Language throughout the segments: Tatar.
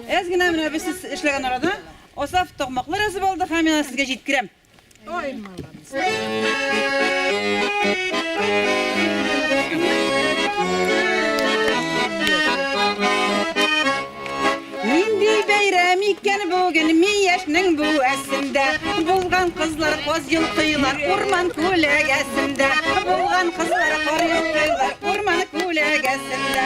Әз генә менә без сез эшләгән арада Асаф Токмаклы рәсеп алды һәм мин аны сезгә җиткерәм. Ой, молодец. Нинди бәйрәм икән бүген ми яшьнең бу әсендә Булган кызлар каз йолкыйлар урман күләгәсендә Булган кызлар кар йолкыйлар урман күләгәсендә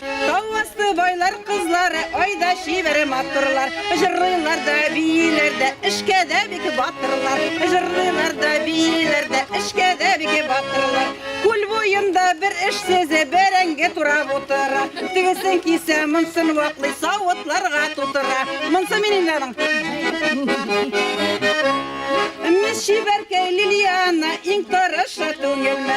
Тау асты байлар кызлары, айда чибәре матурлар, җырлыйлар да бииләр дә, эшкә дә бик батырлар, җырлыйлар да бииләр дә, эшкә дә бик батырлар. Күл буенда бер эшсезе бәрәңге турап утыра, тегесен кисә, монсын ваклый, савытларга тутыра. Монсы минем Мисс Чибәркәй Лилияна иң тырышы түгелме?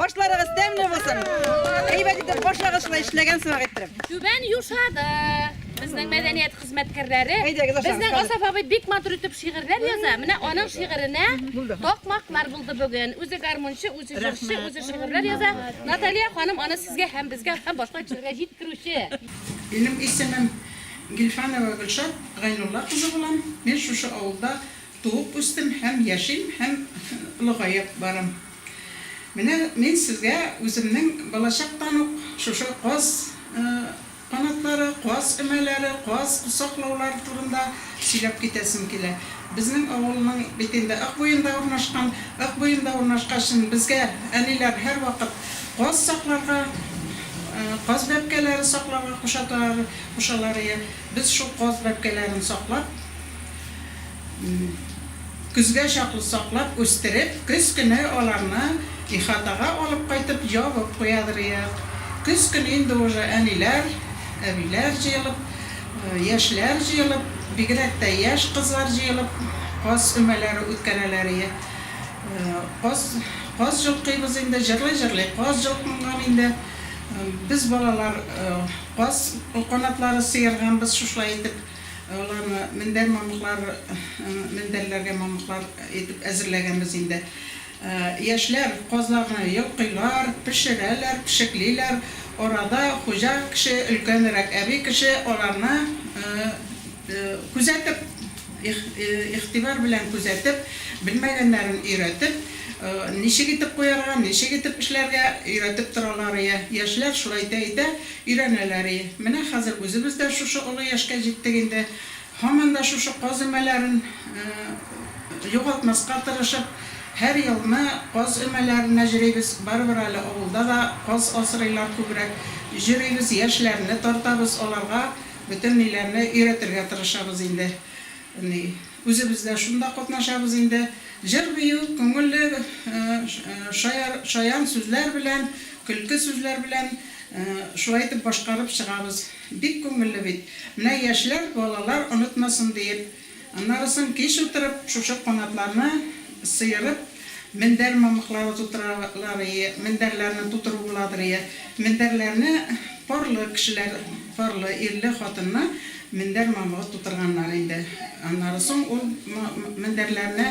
Ашларыгыз тәмле булсын! Әйбәт итеп ашагыз шулай эшләгән сымак иттереп. Түбән Юшада безнең мәдәният хезмәткәрләре безнең Асаф абый бик матур итеп шигырьләр яза. Менә аның шигыренә такмаклар булды бүген. Үзе гармунчы, үзе җырчы, үзе шигырьләр яза. Наталья ханым аны сезгә һәм безгә һәм башка кешеләргә җиткерүче. Минем исемем Гильфанова Гөлшат Гайнулла кызы булам. Мин шушы авылда туып үстем һәм яшим һәм олыгаеп барам. Менә мин сезгә үземнең балачактан ук шушы каз канатлары, каз өмәләре, каз саклаулар турында сөйләп китәсем килә. Безнең авылның бит инде Ык буенда урнашкан. Ык буенда урнашкачын безгә әниләр һәрвакыт каз сакларга, каз бәбкәләре сакларга кушаталар, кушалар иде. Без шул каз бәбкәләрен саклап. Көзгә чаклы саклап үстереп, көз көне аларны ихатага алып кайтып ябып куядырыйк. Көз көне инде уже әниләр, әбиләр җыелып, яшьләр җыелып, бигрәк тә яшь кызлар җыелып каз өмәләре үткәрәләрие. Каз, каз җолкыйбыз инде, җырлый-җырлый каз җолкынган инде. Без балалар каз канатлары сыерганбыз шушылай итеп. Аларны мендәр мамыклар, мендәрләргә мамыклар итеп әзерләгәнбез инде. Яшьләр казларны йолкыйлар, пешерәләр, пешеклиләр. Арада хуҗа кеше, өлкәнрәк әби кеше аларны күзәтеп, игътибар белән күзәтеп, белмәгәннәрен өйрәтеп, ничек итеп куярга, ничек итеп эшләргә өйрәтеп торалар. Яшьләр шулай итә-итә Өйрәнәләр и. Менә хәзер үзебез дә шушы олы яшькә җиттек инде, һаман да шушы каз өмәләрен югалтмаска тырышып, һәр елны каз өмәләренә җөрибез, барыбер әле авылда да каз асрыйлар күбрәк, җөрибез, яшьләрне тартабыз, аларга бөтенниләрне өйрәтергә тырышабыз инде. Ни. Үзебез дә шунда катнашабыз инде. Җыр-бию, күңелле шаян сүзләр белән, көлке сүзләр белән шулай итеп башкарып чыгабыз. Бик күңелле бит. Менә яшьләр, балалар онытмасын диеп. Аннары соң кич утырып шушы канатларны сыерып. Мендәр мамыклары тутыраларые, мендәрләрне тутыру буладырые, мендәрләрне парлы кешеләр, парлы ирле-хатынлы мендәр мамыгы тутырганнар инде. Аннары соң ул мендәрләрне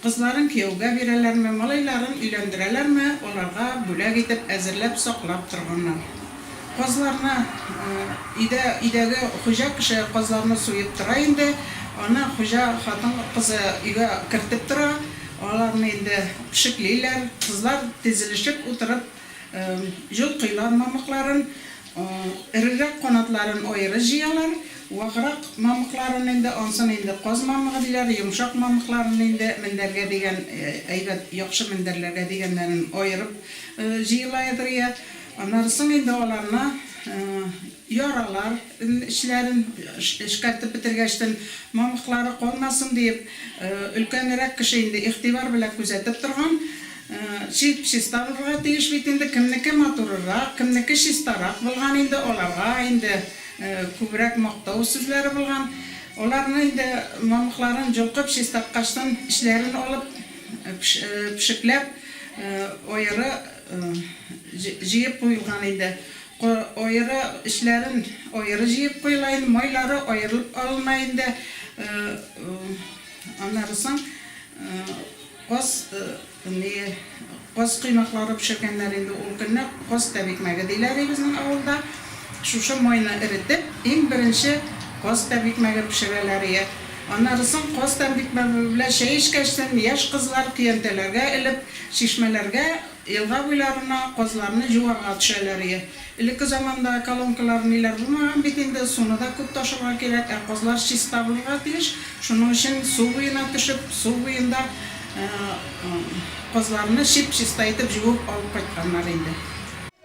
кызларын кияүгә бирәләрме, малайларын өйләндерәләрме, аларга бүләк итеп әзерләп саклап торганнар. Казларны өйдә, өйдәге хуҗа кеше казларны суеп тора инде. Аны хуҗа хатын-кызы өйгә кертеп тора. Аларны инде пешеклиләр. Кызлар тезелешеп утырып җолкыйлар мамыкларын. Эрерәк канатларын аеры җыялар. Ваграк мамыкларын инде, ансын инде каз мамыгы диләр, йомшак мамыкларын инде мендәргә дигән, әйбәт, яхшы мендәрләргә дигәннәрен аерып җыелаедыр, йә. Аннары соң инде аларны яралар эчләрен эшкәртеп бетергәчтен, мамыклары калмасын диеп, өлкәнрәк кеше инде игътибар белән күзәтеп торган, чип-чиста булырга тиеш бит инде, кемнеке матурырак, кемнеке чистарак булган инде, аларга инде күбрәк мактау сүзләре булган. Аларны инде мамыкларын җолкып чистарткачтын, эчләрен алып, пешекләп, аеры. Җыеп куелган инде. Аеры эчләрен аеры җыеп куела инде. Майлары аерылып алына инде. Аннары соң каз, ни, каз коймаклары пешергәннәр инде ул көнне. Каз тәбикмәге диләр безнең авылда. Шушы майны эретеп, иң беренче каз тәбикмәге пешерәләр ие. Аннары соң каз тәбикмәге белән чәй эчкәчтен, яшь кызлар көянтәләргә элеп, Чишмәләргә, елга буйларына казларны җуарга төшәләр е. Элекке заманда колонкалар, ниләр булмаган бит инде, суны да күп ташырга кирәк, ә казлар чиста булырга тиеш, шуның өчен су буена төшеп, су буенда казларны чип-чиста итеп җуып алып кайтканнар инде.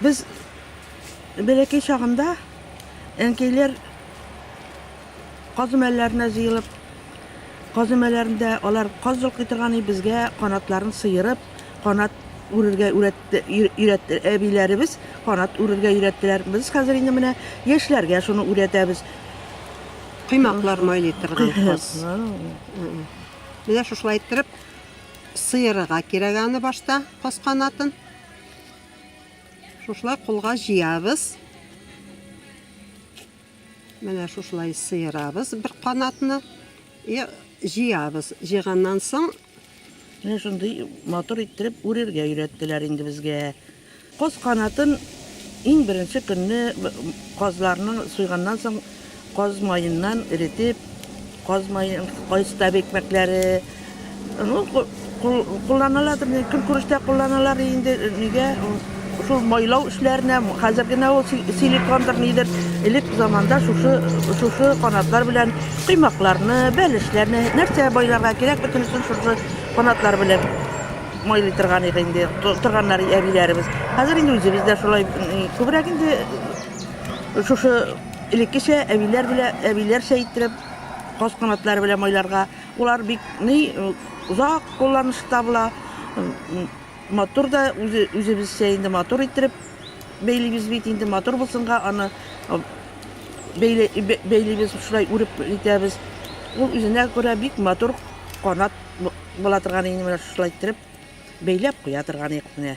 Без бәләкәй чагында әнкәйләр казымәлләренә җыелып, казымәләрендә алар каз йолкый торган и безгә канатларын сыерып, канат үрергә үрәтте, өйрәтте әбиләребез, канат үрергә өйрәттеләр. Без хәзер инде менә яшьләргә шуны үрәтәбез. Коймаклар майлый торган кыз. Менә шушылай иттереп сыерырга кирәк аны башта каз канатын. Шушылай кулга җыябыз. Менә шушылай сыерабыз бер канатны. И җыябыз. Җыйганнан соң Менә шундый матур иттереп үрергә өйрәттеләр инде безгә. Коз канатын иң беренче көнне казларның суйганнан соң каз маеннан эретеп, каз маен, кайстаб икмәкләре, ну, кулланалар, көнкүрештә кулланалар инде, нигә Шул майлау эшләренә хәзер генә ул силикондыр нидер, элек заманда шушы шушы канатлар белән коймакларны, бәлешләрне, нәрсә байларга кирәк, бөтенесен шушы канатлар белән майлый торган иде инде, торганнар әбиләребез. Хәзер инде үзебез дә шулай күбрәк инде шушы элеккечә әбиләр белән әбиләрчә иттереп каз канатлары белән майларга. Улар бик ни озак кулланышта була. Матур да үзе үзебезчә инде матур иттереп бәйлибез бит инде матур булсынга аны бәйлибез шулай үреп итәбез ул үзенә күрә бик матур канат була торган инде менә шулай иттереп бәйләп куя торган ик менә